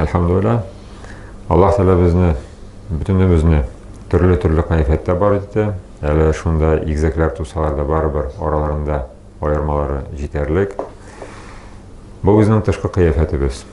Әлхәмдулилла. Аллаһ Тәгалә безне бөтенебезне төрле-төрле кайфәттә бар итте. Әле шунда игзәкләр тусалар да барыбер араларында аермалары җитәрлек. Бу безнең тышкы кыяфәтебез.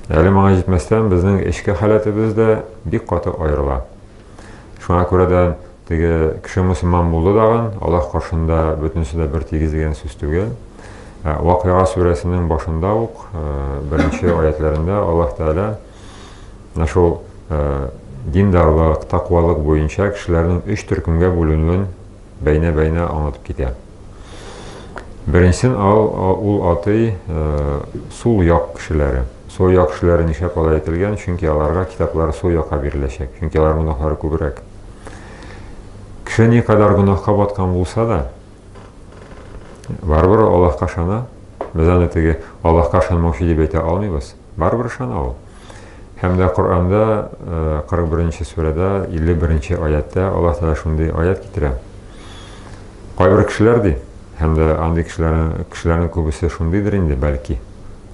Әле моңа җитмәстән, безнең эчке халәтебез дә бик каты аерыла. Шуңа күрә дә теге кеше мусульман булды дагын, Аллаһ каршында бөтенесе дә бер тигез дигән сүз түгел. Ә, Вакыйга сүрәсенең башында ук ә, беренче аятләрендә Аллаһ Тәгалә менә шул ә, диндарлык, таквалык буенча кешеләрнең өч төркемгә бүленүен Бәйнә-бәйнә аңлатып китә. Беренчедән, ул атый э, сул як кешеләре. Сул як кешеләре нишләп алай әйтелгән? Чөнки аларга китаплар сул якка биреләчәк. Чөнки алар гөнаһлары күбрәк. Кеше ни кадәр гөнаһка баткан булса да, барыбер Аллаһка ышана. Без аны теге Аллаһка ышанмаучы дип әйтә алмыйбыз. Барыбер ышана ул. Һәм дә Коръәндә, 41 нче сүрәдә, 51 нче аятьтә Аллаһ Тәгалә шундый аять китерә. Кайбер кешеләр ди, һәм дә андый кешеләрнең кешеләрнең күбесе шундыйдыр инде, бәлки.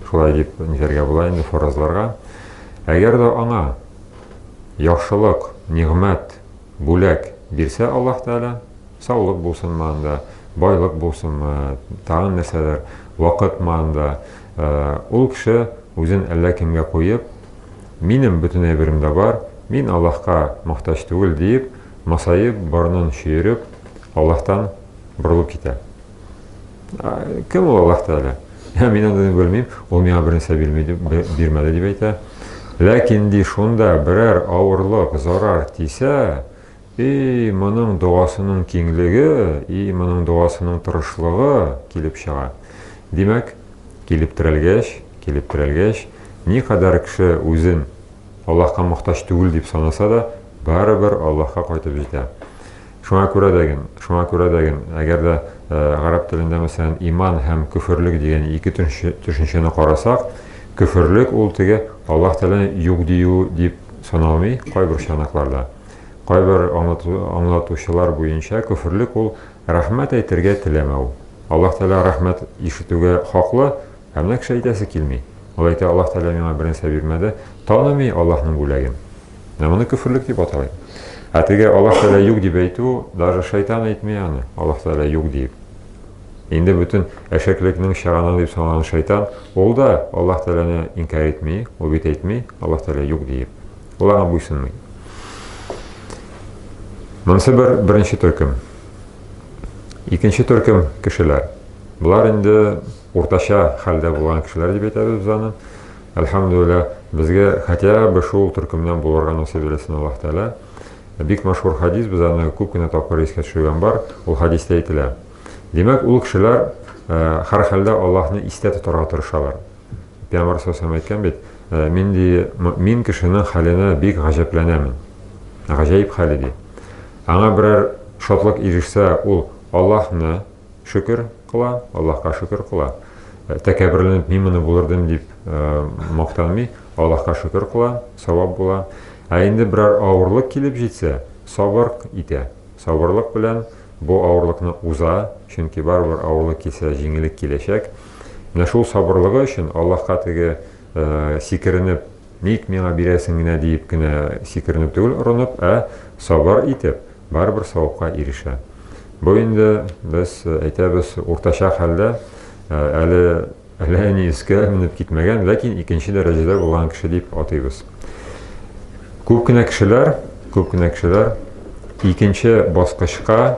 Шулай дип нитәргә була инде фаразларга. Әгәр дә аңа яхшылык, нигъмәт, бүләк бирсә Аллаһ Тәгалә, саулык булсынмы анда, байлык булсынмы, тагын нәрсәдер, вакытмы анда, Ул кеше үзен әллә кемгә куеп, Минем бөтен әйберем дә бар, мин Аллаһка мохтаҗ түгел, диеп, масаеп, борынын чөереп, Аллаһтан борылып китә. Кем ул Аллаһ Тәгалә? Ә мин аны белмим, ул миңа бернәрсә бирмәде, дип әйтә. Ләкин ди шунда берәр авырлык, зарар тисә, И, моның догасының киңлеге, и, моның догасының тырышлыгы килеп чыга. Димәк, килеп терәлгәч, килеп терәлгәч, никадәр кеше үзен Аллаһка мохтаҗ түгел дип санаса да, барыбер Аллаһка кайтып җитә. Шуңа күрә дә ген, шуңа күрә дә ген, әгәр дә гарәп телендә, мәсәлән, иман һәм көферлек дигән ике төшенчәне карасак, көферлек ул теге Аллаһ Тәгаләне юк дию дип саналмый кайбер чанакларда. Кайбер аңлатучылар буенча, көферлек ул рәхмәт әйтергә теләмәү. Аллаһ Тәгалә рәхмәт ишетүгә хаклы, ә менә кеше әйтәсе килми. Ул әйтә, Аллаһ Тәгалә миңа бернәрсә бирмәде, таными Аллаһның бүләген. Менә моны көферлек дип аталар. Ә теге Аллаһ Тәгалә юк дип әйтү, даже шайтан әйтми аны, Аллаһ Тәгалә юк дип. Инде бүтін әшәклекнең чыганы дип саналган шайтан, ул да Аллаһ Тәгаләне инкар итми, ул бит әйтми Аллаһ Тәгалә юк диеп. Ул аңа буйсынмый. Монысы бер беренче төркем. Икенче төркем кешеләр. Болар инде уртача хәлдә булган кешеләр дип әйтәбез без аны. Әлхәмдүлилла, безгә хотя бы шул төркемнән булырга насыйп итсен Аллаһ Тәгалә. Бик мәшһүр хадис, без аны күп кенә тапкыр искә төшергән бар. Ул хадистә әйтелә. Димәк, ул кешеләр һәр хәлдә Аллаһны истә тотарга тырышалар. Дә бар сосем әйткән бит, Минди мөэмин кешенең хәленә бик гаҗәпләнәмен. Гаҗәеп хәл иде. Аңа берәр шатлык ирешсә, ул Аллаһны шөкер кыла, Аллаһка шөкер кыла. Тәкәбберләнеп мин моны булырдым дип мактанмый, Аллаһка шөкер кыла, савап була. Ә инде берәр авырлык килеп җитсә, сабыр итә. Сабырлык белән бу авырлыкны уза, чөнки барыбер авырлык килсә, җиңеллек киләчәк. Менә шул сабырлыгы өчен Аллаһка теге сикеренеп, ник миңа бирәсең генә диеп кенә сикеренеп түгел орынып, ә сабыр итеп, барыбер савапка ирешә. Бу инде без әйтәбез уртача хәлдә, әле әле ни искә менеп китмәгән, ләкин икенче дәрәҗәдә булган кеше дип атыйбыз. Күп кенә кешеләр, күп кенә кешеләр икенче баскычка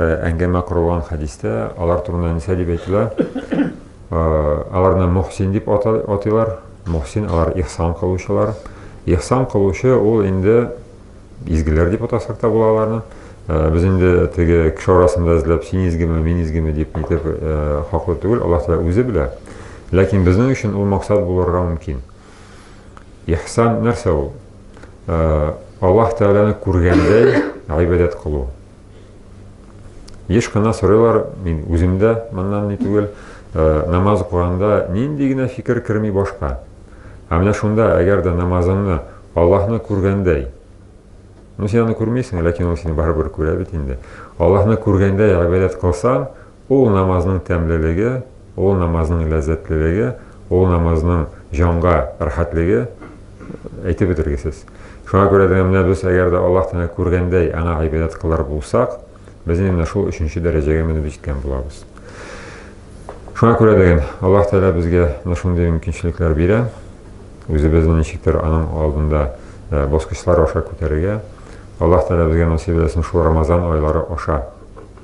Э, әңгәмә корылган хәдистә алар турында нәрсә дип әйтелә э, аларны мөхсин дип атыйлар мөхсин алар ихсан кылучылар ихсан кылучы ул инде изгеләр дип атасак та була аларны э, без инде теге кеше арасында эзләп син изгеме мин изгеме дип нитеп хаклы түгел аллаһ тәала үзе белә ләкин безнең өчен ул максат булырга мөмкин ихсан нәрсә ул аллаһ тәаләне күргәндәй гыйбадәт кылу Еш кына сорыйлар, мин үзем дә моннан ни түгел, э, намаз укыганда нинди генә фикер керми башка. Ә менә шунда, әгәр дә намазыңны Аллаһны күргәндәй, ну син аны күрмисең, ләкин ул сине барыбер күрә бит инде. Аллаһны күргәндәй гыйбадәт кылсаң, Ул намазның тәмлелеге, ул намазның ләззәтлелеге, ул намазның җанга рәхәтлеге әйтеп бетергесез. Шуңа күрә дә менә без әгәр дә Аллаһ Тәгалә күргәндәй аңа гыйбадәт кылыр булсак, без инде менә шул өченче дәрәҗәгә менеп җиткән булабыз. Шуңа күрә дә Аллаһ Тәгалә безгә менә шундый мөмкинчелекләр бирә, үзебезне ничектер аның алдында э, баскычлар аша күтәрергә. Аллаһ Тәгалә безгә насыйп итсен шул Рамазан айлары аша